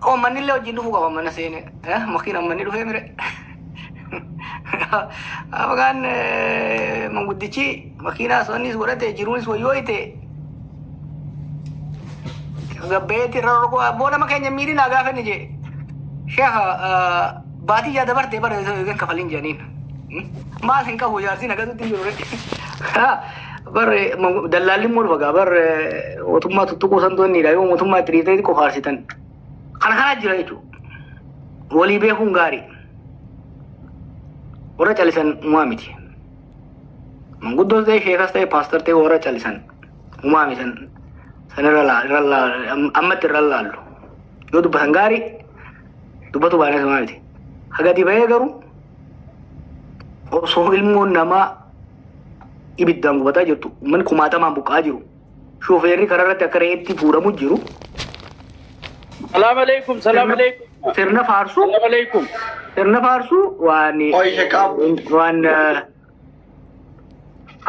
Koo manni illee wajjin dhufuu qaba mana seene. Eh, makiin ammanni dhufee mire. Afgaan eh, manguddichi makiinaa sonnis godhate jiruunis wayyooyte. Gabbeetti irra rogoo abboo nama keenya miidhinaa gaafa inni jee. Sheekha eh, baatii yaa dabarte bara eegan kafalin jedhaniin. Maal hin qabu jaarsi nagatutti hin jiru ree. Bar dallaalli immoo dhufa gaa bar mootummaa tuttuquu santu inni dha yoo mootummaa itti dhiitee qofa aarsitan. Kana kanaa jira jechuudha. Walii beekuun gaarii. Warra callisan umaa miti. Manguddoos ta'e sheekas ta'e paastar ta'e warra callisan umaa misan san irra laa- irra laa- am- ammatti irra laallu. Yoo dubbatan gaarii dubbatu baay'inaan umaa miti. Hagati bahee garuu osoo ilmoon namaa ibiddaan gubataa jirtu ummanni kumaatamaan buqqa'aa jiru shofeerri karaa irratti akka re'eetti fuudhamu jiru Salaam alaikum, salaam alaikum. sirna faarsuu Salaam alaikum. sirna faarsuu waan Qoy ishee qabu. waan eh,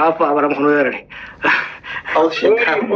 affa abaram kunoo yerare Hawwii ishee qabu.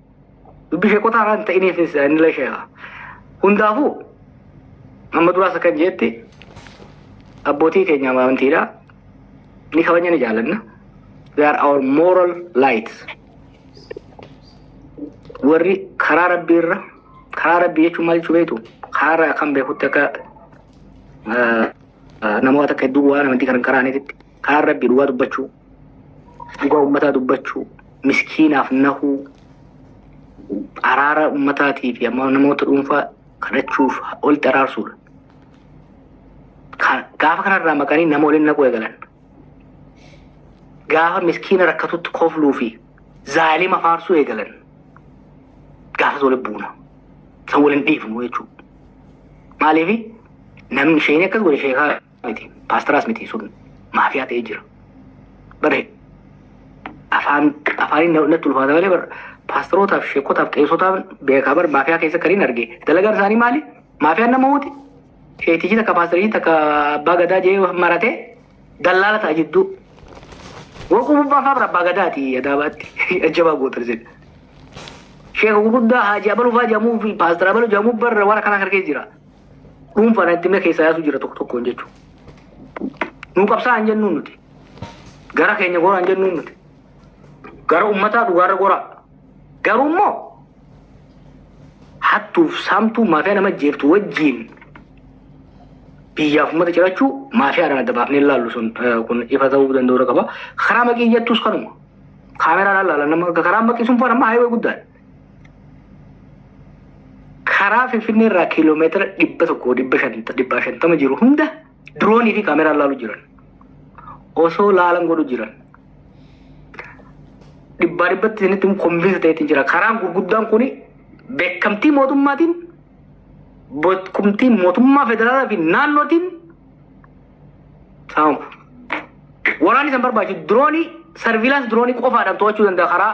dubbi sheekotaa irraa hin ta'inii fi isaanillee sheeka hundaafuu amma duraas akkan jeetti abbootii keenya amantiidha ni kabajna ni jaalanna they are our moral lights warri karaa rabbii irra karaa rabbii jechuun maal jechuu beektu karaa irraa kan beekutti akka ah, ah, namoota akka hedduu waan amantii kan hin karaaniititti Kaan rabbii dhugaa dubbachuu, dhugaa ummataa dubbachuu, miskiinaaf nahuu, araara ummataatii fi amma namoota dhuunfaa kadhachuuf olitti araarsuudha. Ka- Gaafa kanarraa maqanii nama waliin naquu eegalan. Gaafa miskiina rakkatutti kofluu fi zaalima faarsuu eegalan. Gaafas waliin buuna. San waliin dhiifnu jechuudha. Maaliif namni isheen akkas godhe sheekaa miti paastaraas miti sun maafiyaa ta'ee jira bare afaan afaaniin na- natti ulfaata malee bara paastarootaaf sheekotaaf qeesotaaf beekaa bara maafiyaa keessa kan hin arge dalagaan isaanii maali maafiyaan nama huuti sheetichi takka paastarii takka abbaa gadaa jee maratee dallaala ta'a jidduu waquu bubbaa faa bara abbaa gadaati adaabaatti ajjabaa gootan sin sheeka gurguddaa haaji abaluu faa jedhamuu fi paastara abaluu jedhamuu barra waan akkanaa harkee jira dhuunfaa rakkinna keessaa yaasuu jira tokko tokkoon jechuudha. Nuu qabsaa hin jennuun nuti. Gara keenya goraa hin jennuun nuti. Gara uummataa dhugaarra goraa. Garuu immoo hattuuf saamtuu maafiyaa nama jeeftu wajjiin biyyaaf uummata cirachuu maafiyaadhaan adda baafnee ilaallu sun kun ifa ta'uu danda'uu qaba. Karaa maqii jettus kanuma. Kaameraan ilaalan nama karaa maqii sun faan amma haayawee guddaadha. karaa Finfinnee irraa kiiloomeetira dhibba tokko dhibba shanta dhibbaa shantama jiru hunda diroonii fi kaameraan laalu jiran. Osoo laalan godhu jiran. Dhibbaa dhibbatti isinitti immoo konvinsi ta'eetiin jira. Karaan gurguddaan kun beekamtii mootummaatiin beekumtii mootummaa federaalaa fi naannootiin saamamu. Waraanni isaan barbaachisu diroonii sarviilaansi diroonii qofaadhaan to'achuu danda'a karaa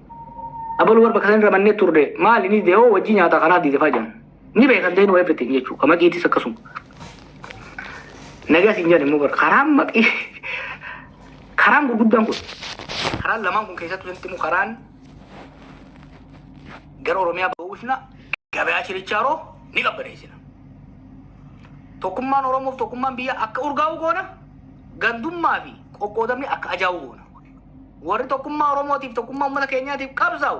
Abalu war bakka sanirra mannee turre maali ni dide hoo wajjii nyaataa kanaa dide faa jedhan. Ni beekan ta'in waa everything jechuu kama giitis akkasuma. Nagaa siin jedhan immoo bara karaan maqii karaan gurguddaan kun karaan lamaan kun keessattuu sanatti immoo karaan gara Oromiyaa ba'uusna gabayaa chirichaaroo ni qabbaneessina. Tokkummaan Oromoof tokkummaan biyya akka urgaa'u goona gandummaa fi qoqqoodamni akka ajaa'u goona. Warri tokkummaa Oromootiif tokkummaa uummata keenyaatiif qabsaa'u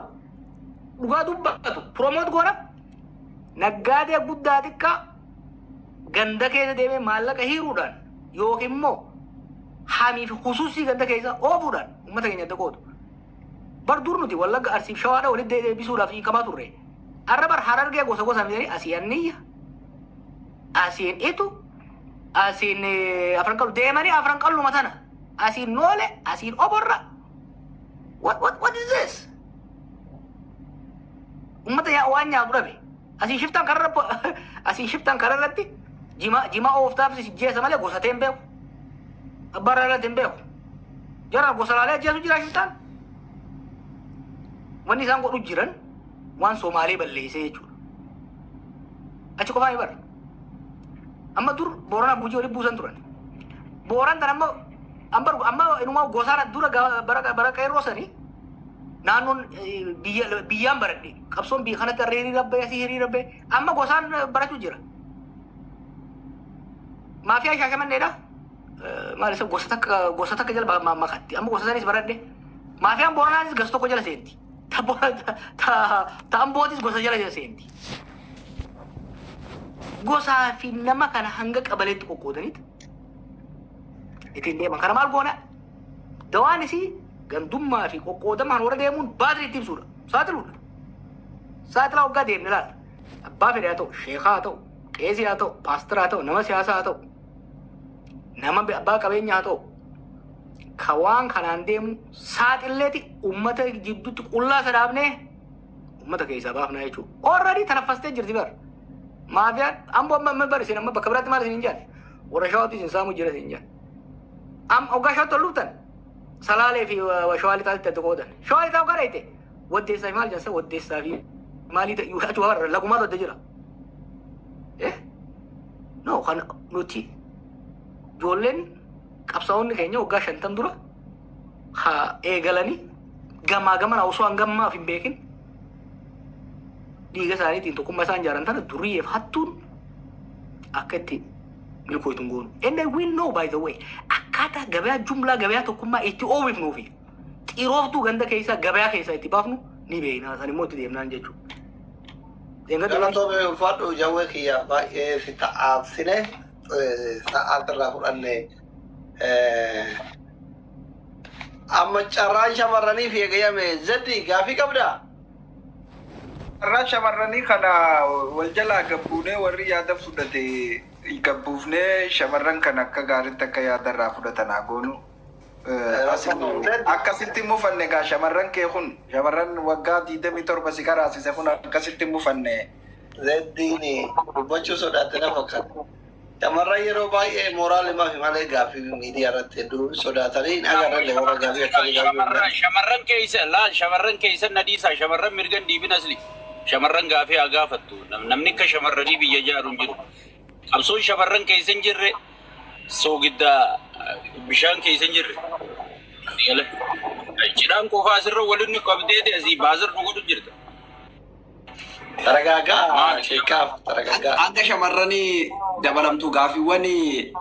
dhugaa dubbatu promoot goona naggaadee guddaa xiqqaa ganda keessa deemee maallaqa hiiruudhaan yookiin immoo hamii fi husuusii ganda keessa oofuudhaan uummata keenya adda qoodu. Bar dur nuti wallagga arsiif shawaadha walitti deebisuudhaaf hiikamaa turre. Arra bar harargee gosa gosa midhanii asii anniyya, asiin itu, asiin eh, afran qallu deemanii afran qalluma tana. Asiin noole, asiin oborra. What, what, what is this? Ummata yaa waan nyaatu dhabe. Asiin shiftaan kararra po- asiin shiftaan kararratti jima jima ooftaaf si jeesa malee gosa ta'e hin beeku. Abbaa irraa dhalate hin beeku. Jara gosa laalee ajjeesu jira shiftaan. Wanni isaan godhu jiran waan Somaalee balleessee jechuudha. Achi qofaa hin bara. Amma dur Booranaaf Gujii walitti buusan turan. Booran tan amma amma amma inumaa gosaara dura ga- bara bara qeerroo sanii naannoon eh, biyya biyyaan baradhe qabsoon biyya kanatti harree hiriira ba'e asii hiriira ba'e amma gosaan eh, barachuu jira. Maafiyaa shaashamanneedha. Eh, Maal isa gosa takka gosa takka jala ma- ma- makatti amma gosa sanis baradhe. Maafiyaan Booranaanis gosa tokko jala seenti. Ta bo- ta- ta- ta ambootis gosa jala jala seenti. Gosaa fi nama kana hanga qabaleetti qoqqoodaniit ittiin deeman. Kana maal goona? Dawaan isii gandummaa fi qoqqoodamaan warra deemuun baadri itti ibsuudha. Saaxiluudha. Saaxilaa waggaa deemne laata. Abbaa fedhe haa ta'u, sheekaa haa ta'u, qeesii haa ta'u, paasteraa haa ta'u, nama siyaasaa haa ta'u, nama abbaa qabeenyaa haa ta'u, ka waan kanaan deemu saaxilleeti ummata jidduutti qullaa isa dhaabnee ummata keessaa baafnaa jechuudha. Orradii tanaffastee jirti bar. Maafiyaan ammoo amma amma bar isin amma bakka biraatti maal isin hin jaanne. Warra shawaatu isin saamuu jira isin hin jaanne. Am ogaa shawaatti ol dhuftan salaalee fi shawaa lixaatti adda qoodan. Shawaa lixaa ogaa dhayte waddeessaa fi maal jansa waddeessaa fi maalii ta'e achi warra lagumaatu adda jira. Eh? No kan nuti ijoolleen qabsaa'onni keenya waggaa shantan dura haa eegalanii gamaa gamana osoo hangammaaf hin beekin dhiiga isaaniitiin tokkummaa isaan jaaran tana duriyyeef hattuun akka itti milkooytu hin goonu. And I will know by the way akkaataa gabayaa jumlaa gabayaa tokkummaa itti oomifnuu fi xirooftuu ganda keessaa gabayaa keessaa itti baafnu ni beekna. San immoo itti deemnaan jechuudha. Deemna Galatoomi ulfaadhu jawwee kiyya baay'ee si ta'aabsine. sa'aati irraa fudhanne. Amma carraan shamarraniif eegayame zeddi gaafii qabdaa? Carraa shamarranii kana wal jalaa gabbuunee warri yaada fudhate gabbuufnee shamarran kan akka gaariitti akka yaada irraa fudhatan haa goonu. Akkasitti hin mufanne egaa shamarran kee kun shamarran waggaa 27 si karaasise kun akkasitti hin mufanne. Zeddiin dubbachuu sodaatte na fakkaata. Shamarran yeroo baay'ee mooraal himafi malee gaaffii miidiyaa irratti hedduu sodaatanii hin agarrelle warra gaaffii akkasii gaaffii Shamarran hundaa. shamarran keeysa laal shamarran keeysan na dhiisaa shamarran mirgan dhiibin asli shamarran gaafii haa gaafattu Nam- namni akka shamarranii biyya jaaru hin jiru qabsoon shamarran keeysa hin jirre soogidda eh, bishaan keeysa hin jirre Gala. cidhaan qofaa asirra waliin nu qabdeeti asii baasar dhugutu jirta Taragaagaa sheekaaf taragaagaa. Hanga shamarran dabalamtu gaafiiwwan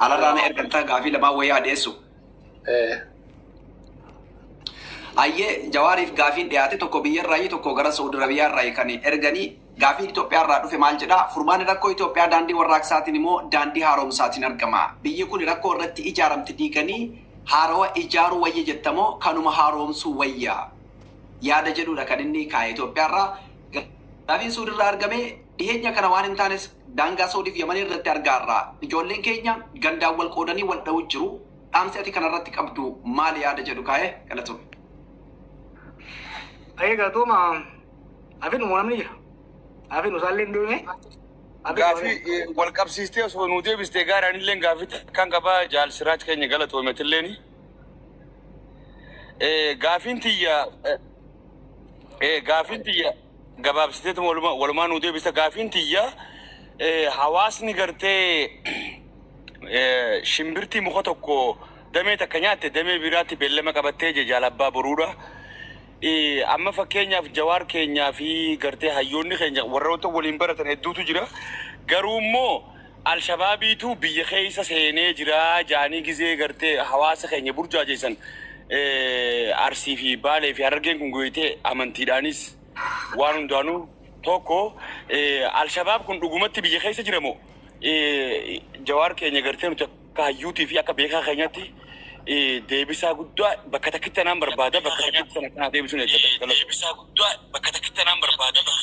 alarraa na ergattaa gaafii lamaan wayyaa dhiyeessu. Eh, Ayyee jawaariif gaafiin dhiyaate tokko biyyarraayi tokko gara Saudi Arabiyaarraayi kan erganii gaafiin Itoophiyaarraa dhufe maal jedha furmaanni rakkoo Itoophiyaa daandii warraaqsaatiin immoo daandii haaromsaatiin argama. Biyyi kun rakkoo irratti ijaaramte diiganii haarawa ijaaruu wayya jettamoo kanuma haaromsuu wayya? yaada jedhuudha kan inni kaa'e Itoophiyaarraa. Gaafiin Suudirraa argame dhiheenya kana waan hin taanes daangaa Soodiif Yaman irratti argaarra. Ijoolleen keenya gandaan wal qoodanii wal dha'uu jiru. Dhaamsi ati kanarratti qabdu maali yaada jedhu kaa'e galatoomi. Ayee galatooma afinu moo namni jira? Afinu isaallee hin deemne? Afinu Gaafii eh, wal qabsiistee osoo nuu deebistee gaariin illee gaafii kan qabaa jaal siraaj keenya galatoometillee ni. Eh, Gaafiin tiyya eh, eh, gaafiin tiyya gabaabsiteetu waluma- walumaa nuu deebisa gaafiin tiyya eh, hawaasni gartee eh, shimbirtii muka tokko damee takka nyaatte damee biraatti beellama qabattee je jaalabbaa boruudha. Eh, amma fakkeenyaaf jawaar keenyaa fi gartee hayyoonni keenya warroota waliin baratan hedduutu jira garuu immoo Alshabaabiitu biyya keessa seenee jira jaanii gizee garte hawaasa keenya burjaajeessan Arsii fi Baalee fi Harargeen kun goyite amantiidhaanis waan hundaanuu tokko Alshabaab kun dhugumatti biyya keessa jira moo Jawaar keenya gartee nuti akka hayyuutii fi akka beekaa keenyatti deebisaa guddaa bakka takkitti anaan barbaada bakka takkitti sana kanaa deebisuun eeggata. Deebisaa guddaa bakka takkitti anaan barbaada bakka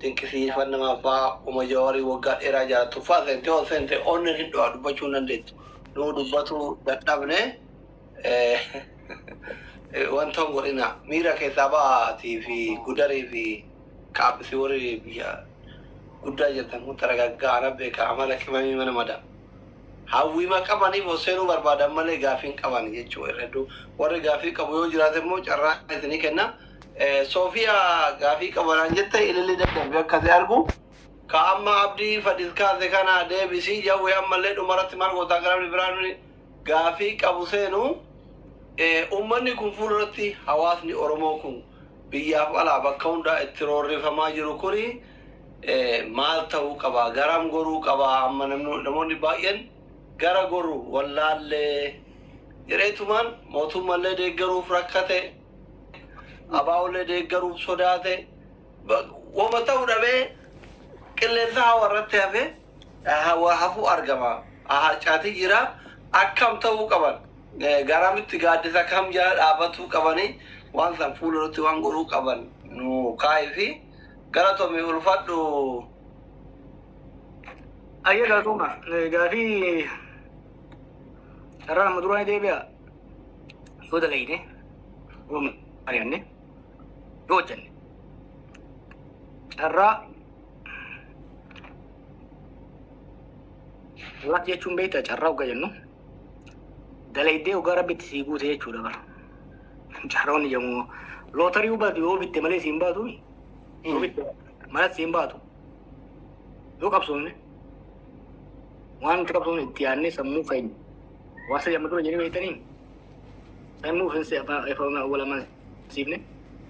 Dinqisiifannama abbaa uma jawari waggaa dheeraa jala tuffaa seentee ol seente onnen hin dho'a dubbachuu hin dandeettu nuu dubbatu dadhabne wanta hin godhina miira keessaa ba'aatii fi gudarii fi kaaphisi warri biyya guddaa jirtan kun taragaggaa ana beeka amala qimamii mana mada hawwiima qabaniif ol seenuu barbaadan malee gaafii hin qaban jechuu irra hedduu warri gaafii qabu yoo jiraate immoo carraa isinii kenna Sofiya gafi qaba naan jette ililli dadhabbi akka si argu ka amma abdi fadis kaase kana deebisi jawwe ammallee dhumarratti maal goota akka namni biraa nuni gaafii qabu seenu eh, ummanni kun fuulduratti hawaasni oromoo kun biyyaaf alaa bakka hundaa itti roorrifamaa jiru kuni eh, maal ta'uu qaba garam goruu qaba amma namni- namoonni baay'een gara goru wallaallee jedheetumaan mootummallee deeggaruuf rakkate Abaa'ollee deeggaruuf sodaate. Ba- Wama ta'u dhabee qilleensa hawa irratti hafee eh, hawa hafuu argama. Ah, Harcaatii jira. Akkam ta'uu qaban? Eh, Garamitti gaaddisa kam jala dhaabatuu qabanii waan san fuula irratti waan godhuu qaban nu kaa'ii fi galatomi ulfadhu. Ayya gaafuma gaafii irraa amma duraan deebi'a. yoo dalayne yoo mari'anne yoo hojjanne carraa Luck jechuun beektaa carraa hogga jennu dalaydee hoggaa rabbitti sii guute jechuudha bara. Carroon yommuu lootarii hubatu yoo bitte malee siin baatu yoo bitte malas siin baatu yoo qabsoofne waan itti qabsoofne itti yaadnee sammuu keenya Waa sadii amma dura jennee beektaniin sammuu ofiinsi abbaa efa humna awwala ammaan siifne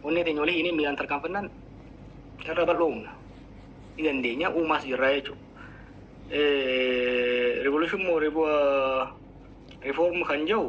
onnee teenya walii hiinee miilaan tarkaanfannaan carraa bal'oo humna ni dandeenya uumaas jirraa jechuudha. Revolution moo reform kan jedhu